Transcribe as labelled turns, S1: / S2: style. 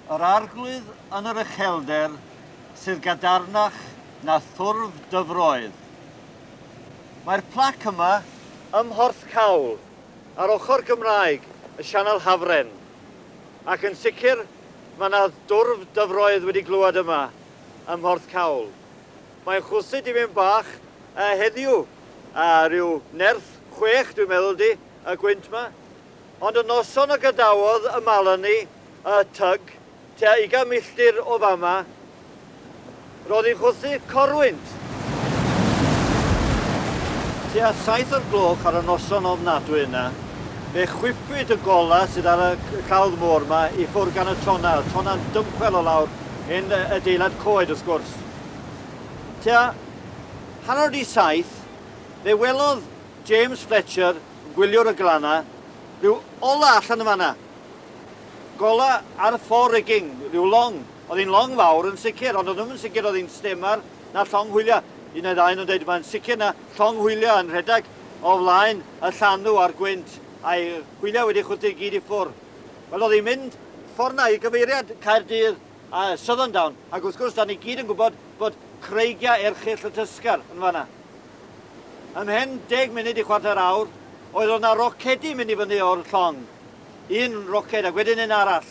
S1: Yr Arglwydd yn yr uchelder sydd gadarnach na thwrf dyfroedd. Mae'r plac yma ym Mhorth Cawl, ar ochr Gymraeg y Sianel Hafren, ac yn sicr mae 'na dwrf dyfroedd wedi glywed yma ym Mhorth Cawl. Mae'n chwysu dipyn bach heddiw, rhyw nerth chwech dwi'n meddwl 'di y gwynt 'ma. Ond y noson y gadawodd y Malani y tug, tua ugain milltir o fama, roedd hi'n chwythu corwynt. Tua saith o'r gloch ar y noson ofnadwy yna, fe chwipwyd y golau sydd ar y cawdd môr yma i ffwrdd gan y tonna, y tonna'n dymchwel o lawr yn adeilad coed wrth gwrs. Tua hanner di saith, fe welodd James Fletcher Gwyliwr y glannau, Rhyw ola allan yn fan'na! Gola ar fore rigging, rhyw long. Oedd hi'n long fawr yn sicr, ond o'n i'm yn sicr oedd hi'n stemar na llong hwyliau. Un neu ddau o'n nhw'n dweud, mae'n sicr na llong hwyliau yn rhedeg o flaen y llanw a'r gwynt, a'i hwyliau wedi chwythu i gyd i ffwrdd. Wel, oedd hi'n mynd ffordd 'na i gyfeiriad Caerdydd a Southerndown, ac wrth gwrs, 'da ni gyd yn gwybod bod creigiau erchyll y Tysgar yn fan'na. Ymhen deg munud i chwarter awr, oedd oedd 'na rocedi mynd i fyny o'r llong. Un roced ac wedyn un arall.